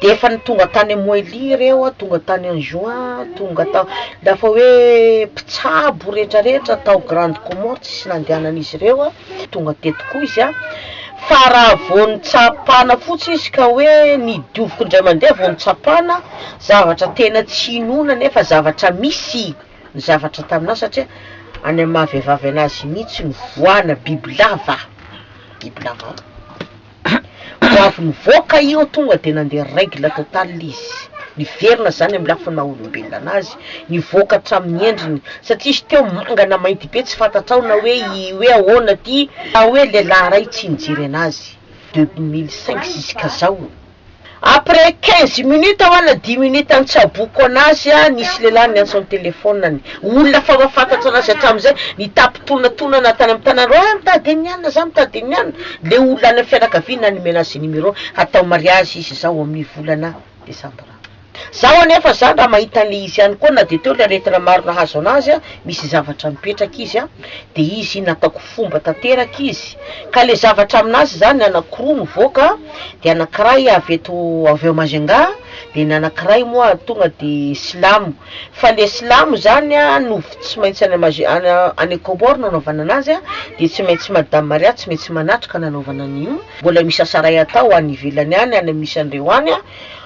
de efa ny tonga tany moily reo a tonga tany en juin tonga tao dafa hoe mpitsabo retraretra tao grande comore tsisy nandehanan'izy reo a tonga teto koa izy a fa raha vao nitsapana fotsy izy ka hoe ny dioviko indray mandeha vao nitsapana zavatra tena tsy inoana nefa zavatra misy ny zavatra taminah satria any am'maha vehivavy anazy mihitsy ny voana bibilava bibilava Ho avy nivoaka io tonga dia nandeha règle totale izy, niverina izany amin'ny lafiny maha olombelona anazy, nivoaka hatramin'ny endriny, satria izy teo manga na mainty be tsy fantatrao na hoe i hoe ahoana ity, na hoe lehilahy iray tsy nijery anazy, deux mille cinq ziskazao. Après quinze minutes hoa na dimy minutes an-tsaboko an'azy a, nisy lehilahy niantso an-telefonany. Olona fa mahafantatra an'azy hatramin'izay, nitapi-tonatonana tany amin'ny tanany hoe, ah, mitady an'i Anna za, mitady an'i Anna. Le olona any amin'ny fianakaviany nanome an'azy numéro, hatao mariage izy izao amin'ny volana desambra. Zaho anefa zany raha mahita an'le izy ihany koa na de teo le aretina maro nahazo anazy a, misy zavatra mipetraka izy a, de izy iny ataoko fomba tanteraka izy, ka le zavatra aminazy zany anankiroa mivoaka, de anankiray avy eto avy ao Majunga, de ny anankiray moa tonga de silamo, fa le silamo zany a no tsy maintsy any Maj- any any Comores no anaovana anazy a, de tsy maintsy madame Maria tsy maintsy manatrika nanaovana an'io, mbola misy asa ray atao any ivelany any, any misy an'ireo any a.